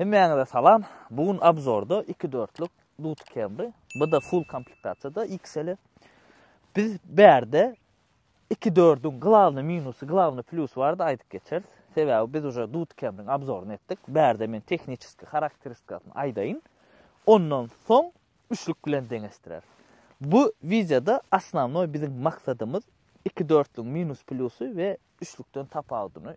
Hemmäňize salam, bu gün obzorda iki dörtlük Duty Camry, bu-da full komplektasiýada XL-i. Biz bärde iki dördüň glawny minusy, glawny plýusy barada aýdyp geçeris. Sebäbi biz uje Duty Camry-niň obzoryny etdik. Bärde men tehniçeski harakteristikasyny aýdaýyn. Ondan soň üçlük bilen deňeşdireris. Bu wideoda osnownoý biziň maksadymyz iki dörtlügiň minus-plýusy we üçlükden tapawudyny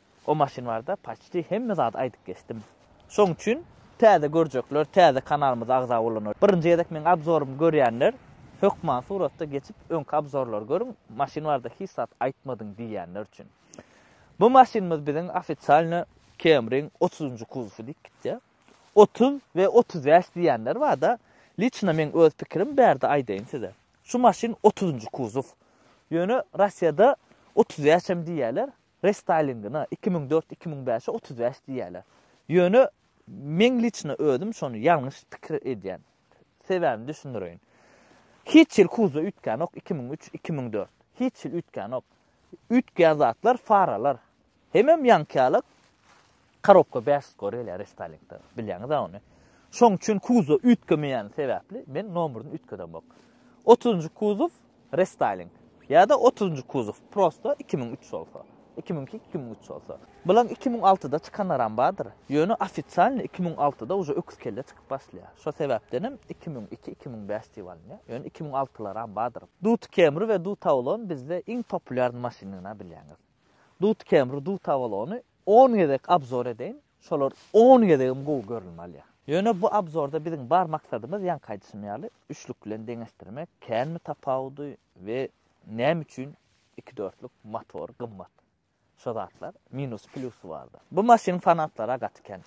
O maşyn barada paçti hemme zady aýdyp geçdim. Şoň üçin täze görjekler täze kanalymyza agza bolanlar birinji gezek meň abzorymy görýänler hökman suratda geçip öňki abzorlary görüň maşyn barada hiç zat aýtmadyň diýýänler üçin. Bu maşynymyz biziň ofisialno Camry-ň otuzynjy kuzowy diýip gitýär. Otuz we otuz bäş diýýänler barda liçno meň öz pikirim bärde aýdaýyn size. Şu maşyn otuzynjy kuzow. Ýöne Russiýada otuz bäş hem diýýärler. Restaylingyna iki müň dört iki müň bäşe otuz bäş diýýäler. Ýöne men liçno özüm şony ýalňyş pikir edýän. Sebäbini düşündireýin. Hiç ýyl kuzda üýtgänok iki müň üç iki müň dört. Hiç ýyl üýtgänok. Üýtgän zatlar faralar. Hemem ýaňky ýaly Korobka bäş ýüz gore gelýär restaliňde, bilýäňiz-ä ony. Şoň üçin kuzow üýtgemeýäni sebäpli men nomuryny üýtgedemok. Otuzynjy kuzow restaliň ýa-da otuzynjy kuzow prosta iki müň üç bolsa, iki müň iki, iki müň üç bolsa. Bulan iki müň altyda çykanlaram bardyr, ýöne ofisialny iki müň altyda uje öküz kelle çykyp başlaýar. Şo sebäpdenem iki müň iki, iki müň bäş diýip alynýar, ýöne iki müň altylaram bardyr. Duty Camry we Duty Avalon bizde iň populýarny maşyndygyna bilýäňiz. Dut kemri dut abalony on gezek abzor edeýin şolar on gezegem gowy görülme alýa. Ýöne bu abzorda biziň bar maksadymyz ýaňky aýdyşym ýaly üçlük bilen deňeşdirmek känmi tapawudy we näme üçin iki dörtlük motor gymmat şo zatlar minusy plýusy bardyr. Bu maşynyň fanatlara gaty kän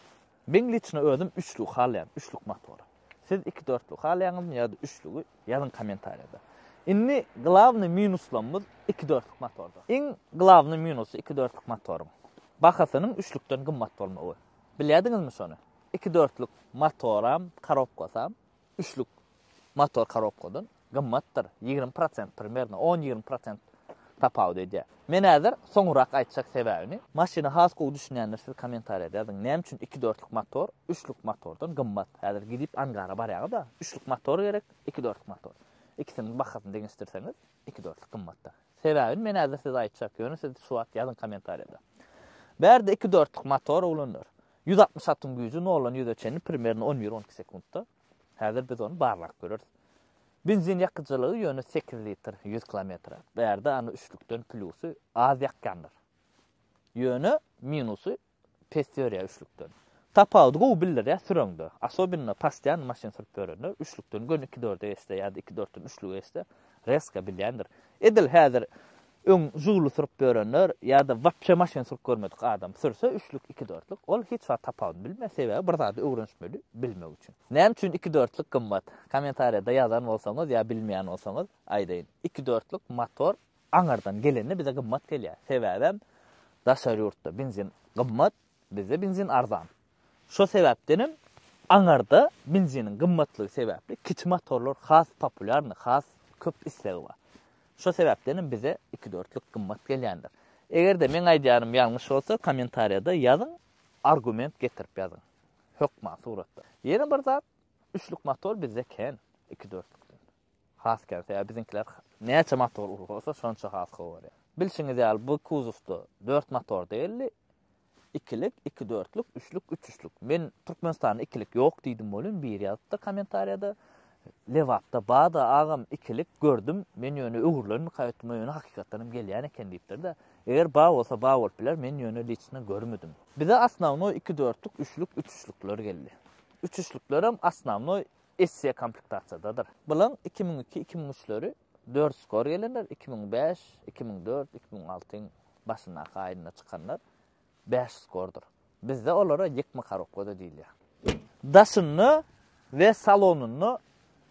Men liçno özüm üçlük halaýan üçlük motory. Siz iki dörtlük halaýaňyzmy ýa-da üçlügi ýazyň komentarýada. Indi glawnyý minuslamyz iki dörtlük motorda. Iň glawnyý minusy iki dörtlük motoryň bahasynyň üçlükden gymmat bolmagy. Bilýädiňizmi şony? Iki dörtlük motoram, korobkasam üçlük motor korobkadan gymmatdyr, ýigrimi prosent primerno, on-ýigrimi prosent tapawut edýär. Men häzir soňurak aýtjak sebäbini. Maşyna has gowy düşünýänler siz kommentariýada ýazyň, näme üçin iki dörtlük motor üçlük motordan gymmat? Häzir gidip angara barýaňyz-a, üçlük motor gerek, iki dörtlük motor. Ikisiniň bahasyny deňeşdirseňiz, iki dörtlük gymmatdyr. Sebäbini men häzir size aýtjak, ýöne siz şu wagt ýazyň kommentariýada. Bärde iki dörtlük motor ulanylýar. Ýüz altmyş atyň güýji noldan ýüze çenli primerno on bir, on iki sekuntda. Häzir biz ony barlap göreris. Benzin ýakyjylygy ýöne sekiz litr ýüz kilometre. Bärde ony üçlükden plýusy az ýakýandyr. Ýöne minusy pes ýörýär üçlükden. Tapawudy gowy bildirýär süreňde. Asobinno pastian maşyn sürüp ýörenler üçlükden göni iki dörde geçse ýa-da iki dörtden üçlüge geçse rezka bilýändir. Edil häzir Öň Žuguli sürüp ýörenler ýa-da wapşe maşyn sürüp görmedik adam sürse üçlük, iki dörtlük, ol hiç wagt tapawudyny bilmez, sebäbi bir zady öwrenişmeli bilmek üçin. Näme üçin iki dörtlük gymmat? Kommentariýada ýazan bolsaňyz ýa bilmeýän bolsaňyz aýdaýyn. Iki dörtlük motor aňyrdan gelende bize gymmat gelýär. Sebäbem daşary ýurtda benzin gymmat, bizde benzin arzan. Şo sebäpdenem aňarda benziniň gymmatlygy sebäpli kiçi motorlar has populýarny, has köp islegi bar. Şo sebäpdenem bize ikidörtlük gymmat gelýändir. Eger-de meň aýdýanym ýalňyş bolsa, kommentariýada ýazyň, argument getirip ýazyň, hökman suratda. Ýene bir zat, üçlük motor bizde kän ikidörtlükden. Has kän, sebäbi biziňkiler näçe motor uly bolsa, şonça has gowy görýär. Bilşiňiz ýaly, bu kuzowda dört motor däldi. Ikilik, iki dörtlük, üçlük, üç üçlük. Men Türkmenistanda ikilik ýok diýdim welin biri ýazypdy kommentariýada. Lebapda bada agam ikilik gördüm. Men ýöne öwrülenmi kaýtym ýöne hakykatdan hem gelýän eken diýipdir-de. Eger ba bolsa ba bolup biler, men ýöne liçno görmedim. Bize asnawnoý iki dörtlük, üçlük, üç üçlükler geldi. Üç üçlükler hem asnawnoý Essiýa komplektasiýadadyr. Bilaň iki müň iki, iki müň üçleri Dört skor gelenler, iki müň bäş, iki müň dört, iki müň altyň başyndaky aýynda çykanlar bäş skordyr. Bizde olara ýykma karokgoda diýilýär. Daşynda we salonynda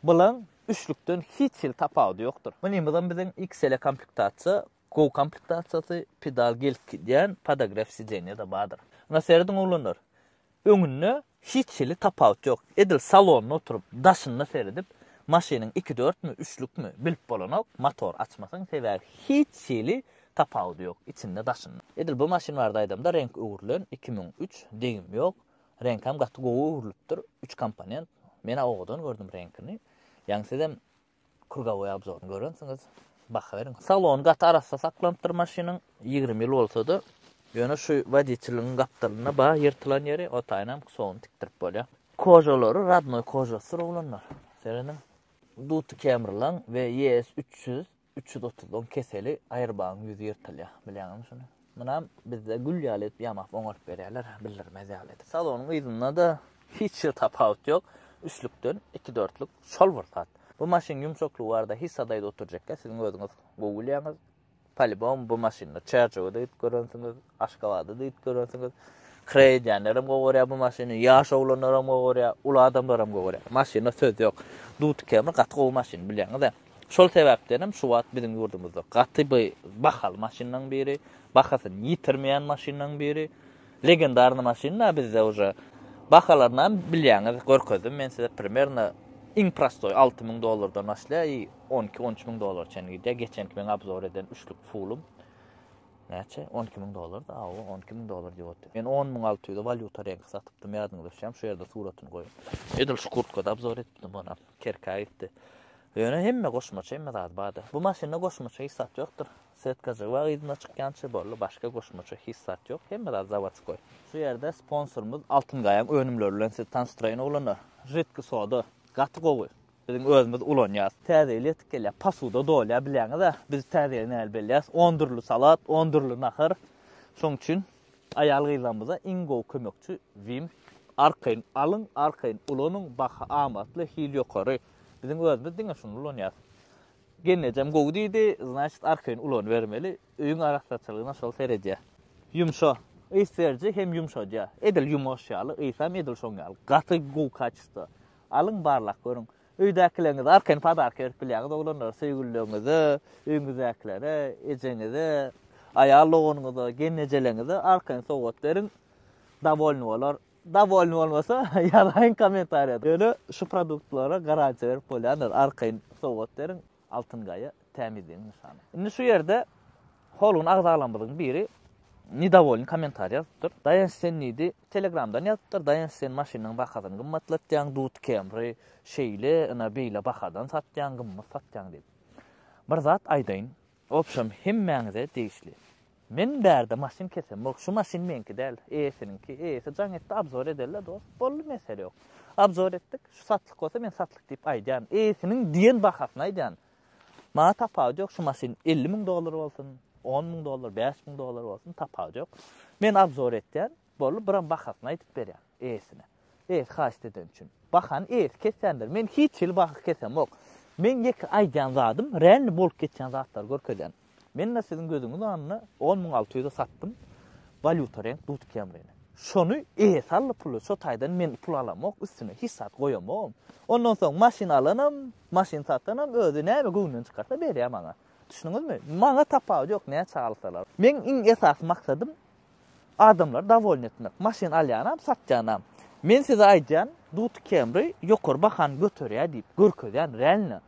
bylaň üçlükden hiç hili tapawudy ýokdur. Mynymyzam biziň XL komplektasiýa, Go komplektasiýasy, pedal gelip gidýän podograf sideniýada bardyr. Ýöne serediň oglanlar, öňünde Hiç hili tapawut ýok. Edil salonda oturyp, daşyna seredip, maşynyň ikidörtmi, üçlükmi, bilip bolanok, motor açmasaň, sebäbi hiç hili tapawudy ýok, içinde-daşynda. Edil bu maşyn barada aýdamda, reňk öwrülen, iki müň üç, degim ýok, reňkem gaty gowy öwrülipdir, üç komponent, men-ä owadan gördüm reňkini, ýaňy sizem Krugovoý obzoryny görensiňiz, baha beriň. Salony gaty arassa saklanypdyr maşynyň, ýigrimi ýyl bolsa-da, ýöne şu woditeliň gapdalynda bar ýyrtylan ýeri otaýynam kusogyny tikdirip bolýar. Kožalary rodnoý kožasydyr oglanlar. Serediň, Duty Kemrlan we ES üç ýüz, üç ýüz otuz on keseli aýyrbagyň ýüzi ýyrtylýar. Bilýäňizmi şuny? Munam bizde gül ýaly edip ýamap oňaryp berýärler, bildirmez ýaly edip. Salonyň yzynda-da hiç bir tapawut ýok. Üçlükden iki dörtlük şol bir zat. Bu maşyn ýumşaklygy barada hiç zadaýda oturjakka siziň özüňiz gowy bilýäňiz. Polibom bu maşynda Çerjewe-de gidip görensiňiz, Aşgabada-da gidip görensiňiz. Kiraýa edýänlerem gowy görýär bu maşyny, ýaş oglanlaram gowy görýär, uly adamlaram gowy görýär. Maşyna söz ýok. Duty Camry gaty gowy maşyn bilýäňiz-ä. Şol sebäpdenem şu wagt biziň ýurdumyzda gaty by bahaly maşynlaň biri, bahasyny ýitirmeýän maşynlaň biri, legendarny maşynla bizde uje bahalarynam bilýäňiz, görkezdim men size primerno iň prostoý alty müň dollardan başlaýar i on iki, on üç müň dollara çenli gidýär, geçenki meň abzor eden üçlük fulum näçe on iki müň dollarda, awa on iki müň dollar diýip otyr. Men on müň alty ýüze walýuta reňki satypdym, ýadyňyzda düşýärmi, şu ýerde suratyny goýuň. Edil şu kurtkada abzor etipdim onam. Kerkä gitdi. Ýöne hemme goşmaça hemme zady bardy. Bu maşynda goşmaça hiç zat ýokdur. Setka jywagy yzyna çykýança boldy, başga goşmaça hiç zat ýok. Hemme zat zawodskoý. Şu ýerde sponsorymyz Altyn gaýaň önümleri bilen sizi tanyşdyraýyn oglanlar. Žitki soda, gaty gowy. Biziň özümiz ulanýas. Täze ýyl ýetip gelýä, posuda dolýa bilýäňiz-ä. Biz täze ýyly näli belleýäs? On dürli salat, on dürli nahar. Şoň üçin Aýal-gyzlarymyza iň gowy kömekçi Vim. Arkaýyn alyň, arkaýyn ulanyň, baha amatly, hil ýokary. Biziň özümiz diňe şuny ulanýas. Gelnejem gowy diýdi, znaçit arkaýyn ulanybermeli, öýüň arassaçylygyna şol seredýär. Ýumşa, ys beriji hem ýumşadýar. Edil ýumaş ýaly, ysam edil şoň ýaly. Gaty gowy kaçesto. Alyň barlap görüň. Öýdäkileriňize arkaýyn padarka berip bilýäňiz, oglanlar, söýgülileriňize, öýüňizdäkilere, ejeňize, aýal doganyňyza, gelnejeleriňize arkaýyn sowgat beriň. Dowolny bolar. Dowolny bolmasa, ýazaýyň kommentariýada. Ýöne şu produktlara garantiýa berip bolýandyr, arkaýyn sowgat beriň. Altyn gaýa, tämizligiň nyşany. Indi şu ýerde Holgun agzalarymyzyň biri nedovolny kommentariý ýazypdyr. Daýanç sen diýdi, telegramdan ýazypdyr, Daýanç sen maşynyň bahasyny gymmatlatýaň, Dut Camry şeýle, ynha beýle bahadan satýaň, gymmat satýaň diýip. Bir zat aýdaýyn, obşem hemmäňize degişli. Men bärde maşyn kesem bok şu maşyn meňki däl eýesiniňki eýesi jaň etdi abzor edeli dost boldy mesele ýok abzor etdik şu satlyk bolsa men satlyk diýip aýdýan eýesiniň diýen bahasyny aýdýan maňa tapawudy ýok şu maşyn elli müň dollar bolsun on müň dollar bäş müň dollar bolsun tapawudy ýok men abzor etýän Boldy, biram bahasyny aýdyp berýän eýesine. Eýesi haýyşt edeni üçin. Bahany eýesi kesýändir. Men hiç hili baha kesemok. Men ýeke aýdýan zadym, realny bolup geçýän zatlary görkezýän. Men-de siziň gözüňiz öňünde on müň alty ýüze satdym, walýuta reňk dut kemrini. Şony eýesi aldy puly, şo taýdan men pul alamok, üstüne hiç zat goýamogam. Ondan soň maşyn alanam, maşyn satanam özi näme göwnünden çykarsa berýär maňa. Düşündiňizmi? Maňa tapawudy ýok, näçe alsalar. Meň iň esasy maksadym Adamlary dowolny etmek. Maşyn alýanam, satýanam. Men size aýdýan, Dut Camry ýokary bahany göterýär diýip görkezýän, realno.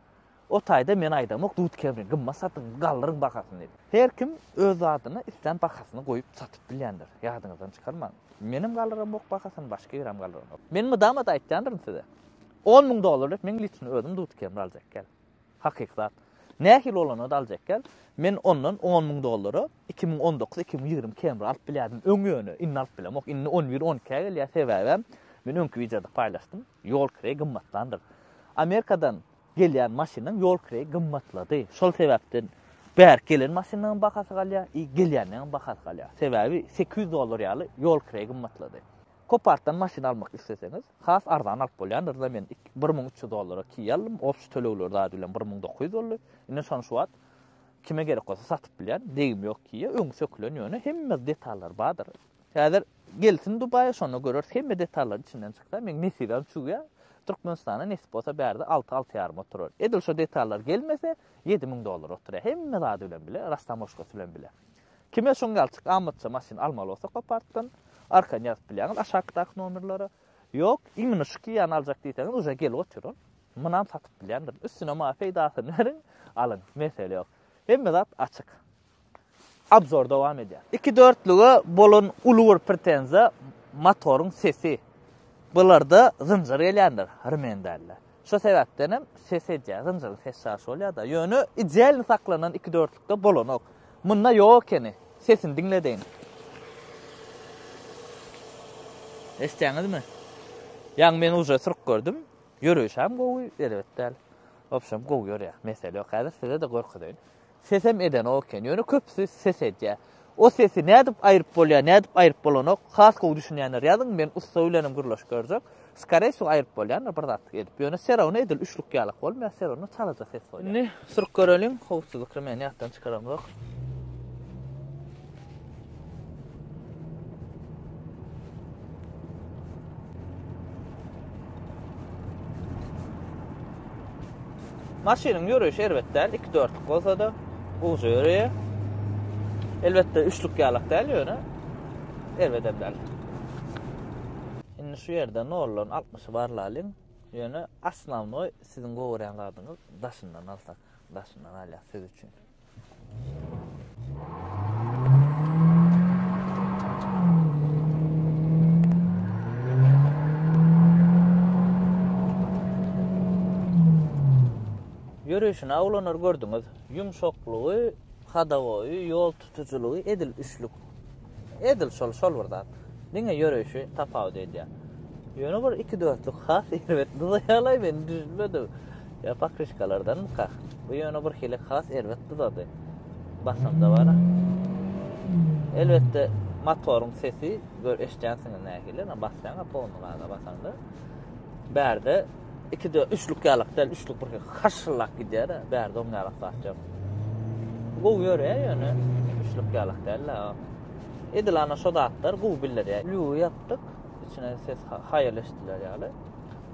O taýda men aýdamok, Dut Camry gymmat satyň, galdyryň bahasyny diýip. Her kim öz zadyna islän bahasyny goýup satyp bilýändir. Ýadyňyzdan çykarmaň. Menem galdyramok bahasyny, başga birem galdyramok. Men mydama-da aýtýandyryn size. On müň dollar berip meň litrimi özüm Dut Camry aljak, gel. Hakyky zat. Nähili bolanda-da aljak ekän. Men ondan on müň dollara iki müň on dokuz, iki müň ýigrimi kemri alyp bilýärdim öň ýöne, indi alyp bilemok. Indi on bir, on ikä gelýär. Sebäbem, men öňki wideoda paýlaşdym, ýol kireýi gymmatlandyr. Amerikadan gelýän maşynyň ýol kireýi gymmatlady. Şol sebäpden bärik gelen maşynlaryň bahasy galýar i gelýänleriň bahasy galýar. Sebäbi sekiz ýüz dollar ýaly ýol kireýi gymmatlady. Copartdan maşyn almak isleseňiz, has arzan alyp bolýandyr-da, men bir müň üç ýüz dollara Kia aldym, obşy tölegler zady bilen bir müň dokuz ýüz boldy, indi şony şu wagt kime gerek bolsa satyp bilýän, degim ýok Kia, öňi sökülen ýöne hemme detallary bardyr. Häzir gelsin Dubaýa şonda göreris, hemme detallary içinden çykýar, meň nesibem çüwýä, Türkmenistana nesip bolsa bärde alty, alty ýaryma oturar, edil şo detallary gelmese ýedi müň dollara oturýar, hemme zady bilen bile, rastamoşkasy bilen bile. Kime şoň ýaly çykamatça maşyn almaly bolsa kopartdan arkany ýazyp bilýäňiz aşakdaky nomerlere. Ýok, imini şu Kia-ny aljak diýseňiz uje gelip otyr ol. Munam satyp bilýändir. Üstüne maňa peýdasyny beriň, alyň, mesele ýok. Hemme zat açyk. Abzor dowam edýär. Iki dörtlüge bolan uly bir pretenziýa motoryň sesi. Bularda zynjyr gelýändir, rmen dälde. Şo sebäpden hem ses edýär, zynjyryň ses çaşy bolýar-da. Ýöne idealny saklanan iki dörtlükde bolanok. Munda ýok ekeni. Sesini diňledeýin. Eşitýäňizmi? Ýaňy men uje syryk gördüm. Ýöreýşem gowy, erbet däl. Obşem gowy ýörýär. Mesele ýok. Häzir size-de görkezeýin. Sesem edenok eken. Ýöne köpüsi ses edýär. O sesi nädip aýryp bolýar, nädip aýryp bolanok, has gowy düşünýänler ýazyň, men ussa bilenem gürleşip görjek. Skarei su aýryp bolýandyr bir zatlyk edip. Ýöne serowna edil üçlük ýalak bolmaýar, serowna çalaja ses bolýar. Indi suryp göreliň, howsuzlyk remenini ýatdan çykaramzok. Maşynyň ýörüşi erbet däl, 2-4-lük bolsa-da, uja ýöreýär. Elbetde, üçlük ýalak däl ýöne, erbet hem däl. Indi şu ýerde nollan 60 barlalyň. Ýöne, asnawnoý siziň gowurýan zadyňyz daşyndan alsak, daşyndan alýas siz üçin. Ýörişini awlanar gördüňiz. Ýumşaklygy, hodowoýy, ýol tutujylygy edil üçlük. Edil şol, şol bir zat. Diňe ýöreýşi tapawut edýär. Ýöne bir iki dörtlük has erbet dyza ýalaý men düşünmedim. Ýa pakryşkalardanmyka? Bu ýöne bir hili has erbet dyzady. Basymda bar. Elbetde motoryň sesi gör eşdýänsiňiz nähili, basýaňa polny gaza basanda. Bärde Ikide üçlük ýalak däl, üçlük bir haşyllap gidýär-ä, bärde oň ýalak zat ýok. Gowy ýörýär ýöne üçlük ýalak däl-ä. Edil ana şo zatlar gowy bildirýär. Lüwi ýapdyk, içine ses haýal eşidiler ýaly.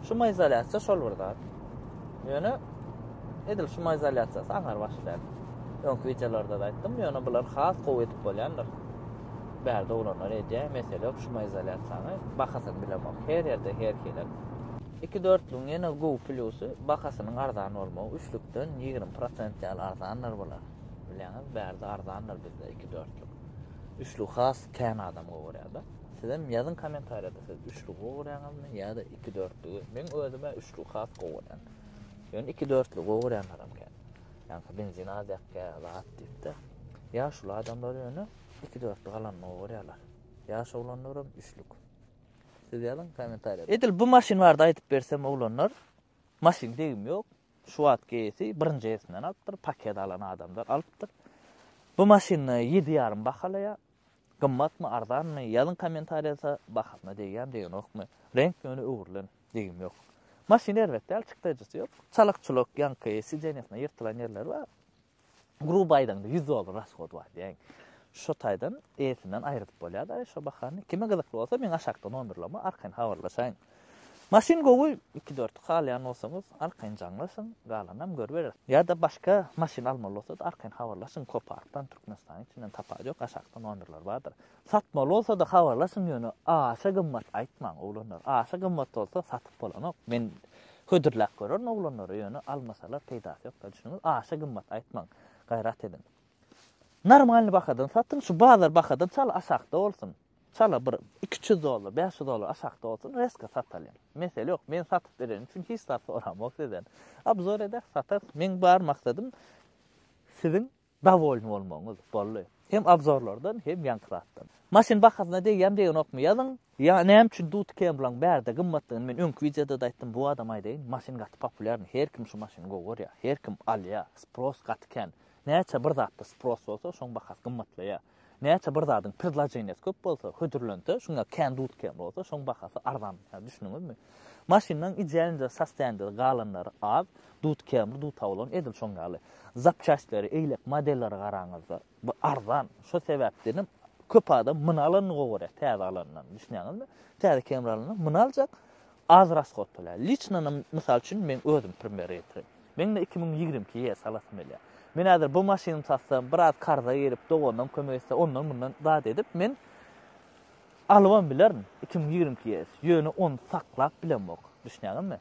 Şumoizolýasiýa şol bir zat. Ýöne edil şumoizolýasiýasy aňar başlaýar. Öňki wideolarda-da aýtdym, ýöne bular has gowy edip bolýandyr. Bärde oglanlar edýär, mesele ýok, şumoizolýasiýany bahasyny bilemok. Her ýerde her hili. Iki dörtlügiň ýene gowy plýusy, bahasynyň arzan bolmagy, üçlükden ýigrimi prosent ýaly arzandyr bular. Bilýäňiz, bärde arzandyr bizde iki dörtlük. Üçlügi has kän adam gowy görýärdi. Sizem ýazyň kommentariýada siz üçlügi gowy görýäňizmi ýa-da iki dörtlügi? Meň özüme üçlügi has gowy görýän. Ýöne iki dörtlügi gowy görýänlerim kän. Ýaňky benzin az ýakýar, zat diýip-de. Ýaşuly adamlar ýöne Iki dörtlük alanyny gorýarlar. Ýaş oglanlaram üçlük. Siz ýazyň kommentariýada. Edil bu maşyn barada aýdyp bersem oglanlar. Maşyn degim ýok. Şu wagt GS-i birinji elsinden alypdyr, paket alan adamdan alypdyr. Bu maşyny ýedi ýarym bahalaýar. Gymmatmy, arzanmy? Ýazyň kommentariýada bahasyna degýämi, degenokmy? Reňk ýöne öwrülen, degim ýok. Maşyn erbet däl, çykdajysy ýok. Çalak-çulak ýaňky sidenýasyna ýyrtylan ýerleri bar. Gruby aýdaňda 100 dollar rashod bar diýäýiň. Şo taýdan eýesinden aýrydyp bolýar-da şo bahany. Kime gyzykly bolsa meň aşakda nomerlama arkaýyn habarlaşaýyň. Maşyn gowy, iki-dört halýan bolsaňyz arkaýyn jaňlaşyň, galanam görübereris. Ýa-da başga maşyn almaly bolsa-da arkaýyn habarlaşyň, Koparkdan, Türkmenistanyň içinden, tapawudy ýok, aşakda nomerler bardyr. Satmaly bolsada habarlaşyň ýöne aşa gymmat aýtmaň oglanlar aşa gymmat bolsa satyp bolanok men hödürläp görerin oglanlara ýöne almasalar peýdasy ýokda düşüniňiz aşa gymmat aýtmaň gaýrat ediň normalny bahadan satyň şu bazar bahadan çal aşakda bolsun çala bir iki üç ýüz dollar bäş ýüz dollar aşakda bolsun reska satalyň mesele ýok men satyp berenim üçin hiç zat soramok sizden obzor eder satar meň bar maksadym siziň Dowolny bolmagyňyz boldy. Hem obzorlardan hem ýaňky zatdan. Maşyn bahasyna degýämi degenokmy ýazyň. Ýa näme üçin Duty Kemryň bärde gymmatdygyny men öňki wideodada aýtdym bu adama aýdaýyn maşyn gaty populýarny her kim şu maşyny gowy görýär her kim alýar spros gaty kän näçe bir zatda spros bolsa şoň bahasy gymmatlaýar. Näçe bir zadyň predloženiýasy köp bolsa, hödürlense, şunda kän duz kän bolsa, şoň bahasy arzan. Ýa düşündiňizmi? Maşynlaň idealnja sastänjede galanlary az, duz känbir duz tawlan edil şoň ýaly. Zapçastleri, eýlek modelleri garaňyzda, bu arzan. Şo sebäpdenem köp adam myn alanyny gowy görýär täze alandan. Düşünýäňizmi? Täze känbir alanda myn aljak, Az rasgot bolýar. Liçno mysal üçin meň özüm premýere getirem. Meň-de iki müň ýigrimi iki ýe salasym gelýär. Men häzir bu maşynymy satsam, biraz karza girip, doganam kömek etse, ondan-mundan zat edip, men alybam bilerin iki müň ýigrimi iki ýe. Ýöne ony saklap bilemok. Düşünýäňizmi?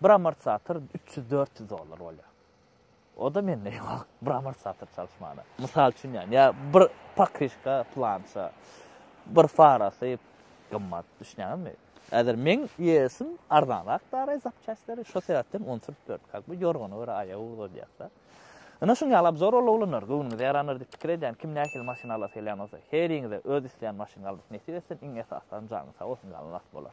Bir amortizator üç ýüz, dört ýüz dollar bolýar. O-da mende ýok, bir amortizator çalyşmana. Mysal üçin ýa, ýa bir pakryşka plança, bir farasy gymmat, düşünýäňizmi? Häzir meň ýesim arzanrak daraý zapçastleri, şo sebäpden on sürüp ýörüp, kak bu ýorgana görä aýagy uzaldýas-da. Ine şuň ýaly abzor ol oglanlar, göwnüňize ýarandyr diýip pikir edýän, kim nähili maşyn alasy gelýän bolsa, heriňize öz isleýän maşyny almak nesip etsin, iň esasam janyň sag bolsun, galan rast bolar.